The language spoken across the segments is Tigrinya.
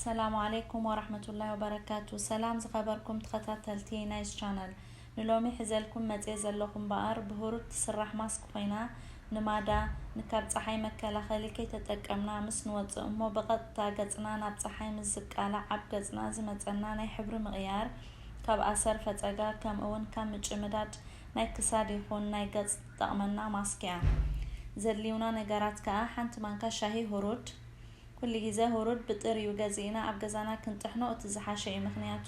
ሰላም ዓለይኩም ወራህመቱላሂ ወበረካቱ ሰላም ዝኸበርኩም ተኸታተልቲ ናይዝ ቻነል ንሎሚ ሕዘልኩም መጽየ ዘለኹ እምበኣር ብህሩድ ትስራሕ ማስክ ኮይና ንማዳ ንካብ ጸሓይ መከላኸሊ ከይተጠቀምና ምስ ንወጽእ እሞ ብቐጥታ ገጽና ናብ ጸሓይ ምስ ዝቃላዕ ኣብ ገጽና ዝመጸና ናይ ሕብሪ ምቕያር ካብ ኣሰር ፈጸጋ ከምእውን ካብ ምጭምዳድ ናይ ክሳድ ይኹን ናይ ገጽ ትጠቕመና ማስክ እያ ዘድልዩና ነገራት ከኣ ሓንቲ ማንካ ሻሂ ህሩድ ኩሉ ግዜ ሁሩድ ብጥሪኡ ገዚእና ኣብ ገዛና ክንጥሕኖ እቲ ዝሓሸ እዩ ምኽንያቱ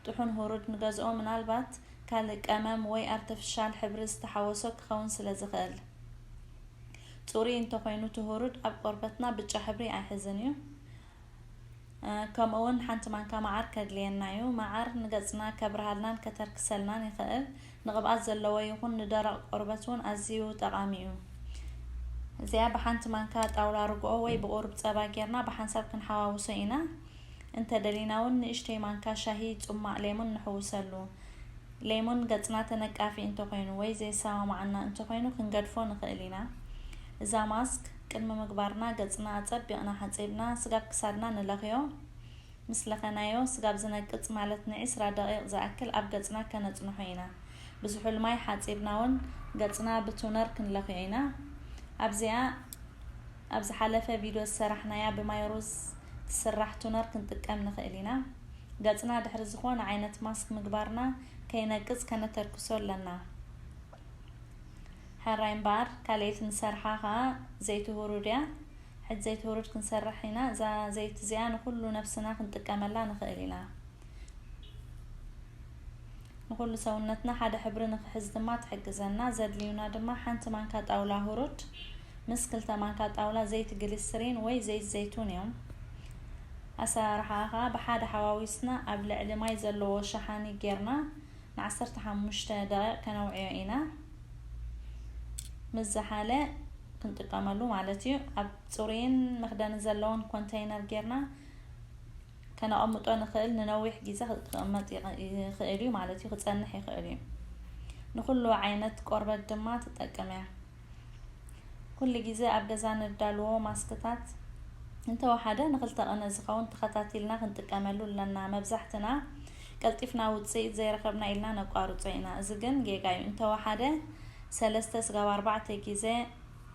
ጥሑን ሁሩድ ንገዝኦ ምናልባት ካልእ ቀመም ወይ ኣርተፍሻል ሕብሪ ዝተሓወሶ ክኸውን ስለ ዝኽእል ጹሩይ እንተኾይኑ እቲ ሁሩድ ኣብ ቆርበትና ብጫ ሕብሪ ኣይሕዝን እዩ ከምኡውን ሓንቲ ማንካ መዓር ከድልየና እዩ መዓር ንገጽና ከብርሃልናን ከተርክሰልናን ይኽእል ንቅብኣት ዘለዎ ይኹን ንደረቕ ቆርበት ውን ኣዝዩ ጠቓሚ እዩ። እዚኣ ብሓንቲ ማንካ ጣውላ ርግኦ ወይ ብቁሩብ ጸባ ጌርና ብሓንሳብ ክንሓዋውሶ ኢና። እንተ ደሊና ውን ንእሽተይ ማንካ ሻሂ ጹማቕ ሌሙን ንሕውሰሉ። ሌሙን ገጽና ተነቃፊ እንተ ኾይኑ ወይ ዘየሰማማዓና እንተ ኾይኑ ክንገድፎ ንኽእል ኢና። እዛ ማስክ ቅድሚ ምግባርና ገጽና ኣጸቢቕና ሓጺብና ስጋብ ክሳድና ንለኽዮ። ምስ ለኸናዮ ስጋብ ዝነቅጽ ማለት ንዒስራ ደቒቕ ዝኣክል ኣብ ገጽና ከነጽንሖ ኢና። ብዝሑል ማይ ሓጺብናውን ገጽና ብቱነር ክንለኽዮ ኢና። ኣብዚኣ ኣብ ዝሓለፈ ቪድዮ ዝሰራሕናያ ብማይ ሩዝ ትስራሕ ቱነር ክንጥቀም ንኽእል ኢና። ገጽና ድሕሪ ዝኾነ ዓይነት ማስክ ምግባርና ከይነቅጽ ከነተርክሶ ኣለና። ሕራይ እምበኣር ካልኤት ንሰርሓ ከኣ ዘይትሁሩድያ ሕጅ ዘይትውርድ ክንሰርሕ ኢና እዛ ዘይቲ እዚኣ ንኹሉ ነብስና ክንጥቀመላ ንኽእል ኢና ንኹሉ ሰውነትና ሓደ ሕብሪ ንኽሕዝ ድማ ትሕግዘና ዘድልዩና ድማ ሓንቲ ማንካ ጣውላ ሁሩድ ምስ ክልተ ማንካ ጣውላ ዘይቲ ግሊስሪን ወይ ዘይት ዘይቱን እዮም ኣሰራርሓ ከዓ ብሓደ ሓዋዊስና ኣብ ልዕሊ ማይ ዘለዎ ሸሓኒ ጌርና ን ዓሰርተ ሓሙሽተ ደቂቅ ከነውዕዮ ኢና ምስ ዝሓለ ክንጥቀመሉ ማለት እዩ ኣብ ፅሩይን መክደኒ ዘለዎን ኮንተይነር ጌርና ከነቐምጦ ንኽእል ንነዊሕ ግዜ ክቕመጥ ይኽእል እዩ ማለት እዩ ክፀንሕ ይኽእል እዩ ንኹሉ ዓይነት ቆርበት ድማ ትጠቅም እያ ኩሉ ግዜ ኣብ ገዛ ነዳልዎ ማስክታት እንተወሓደ ንክልተ ቅነ ዝኸውን ተኸታቲልና ክንጥቀመሉ ኣለና። መብዛሕትና ቀልጢፍና ውጽኢት ዘይረኸብና ኢልና ነቋርጾ ኢና። እዚ ግን ጌጋ'ዩ። እንተወሓደ ሰለስተ ስጋብ ኣርባዕተ ግዜ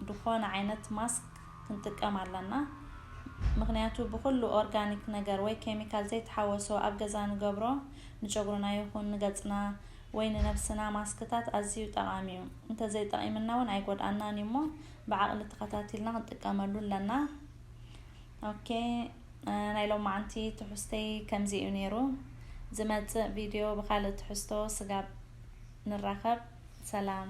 ድኾነ ዓይነት ማስክ ክንጥቀም ኣለና። ምኽንያቱ ብኹሉ ኦርጋኒክ ነገር ወይ ኬሚካል ዘይተሓወሶ ኣብ ገዛ ንገብሮ ንጨጉርና ይኹን ንገጽና ወይ ንነብስና ማስክታት ኣዝዩ ጠቓሚ ዩ እንተ ዘይጠቒምና ውን ኣይጎድኣናን ዩ እሞ ብዓቕሊ ተኸታቲልና ክንጥቀመሉ ኣለና ok ናይ ሎማዓንቲ ትሑዝተይ ከምዚ ዩ ኔሩ ዝመጽእ ቪድዮ ብኻልእ ትሕዝቶ ስጋብ ንራኸብ ሰላም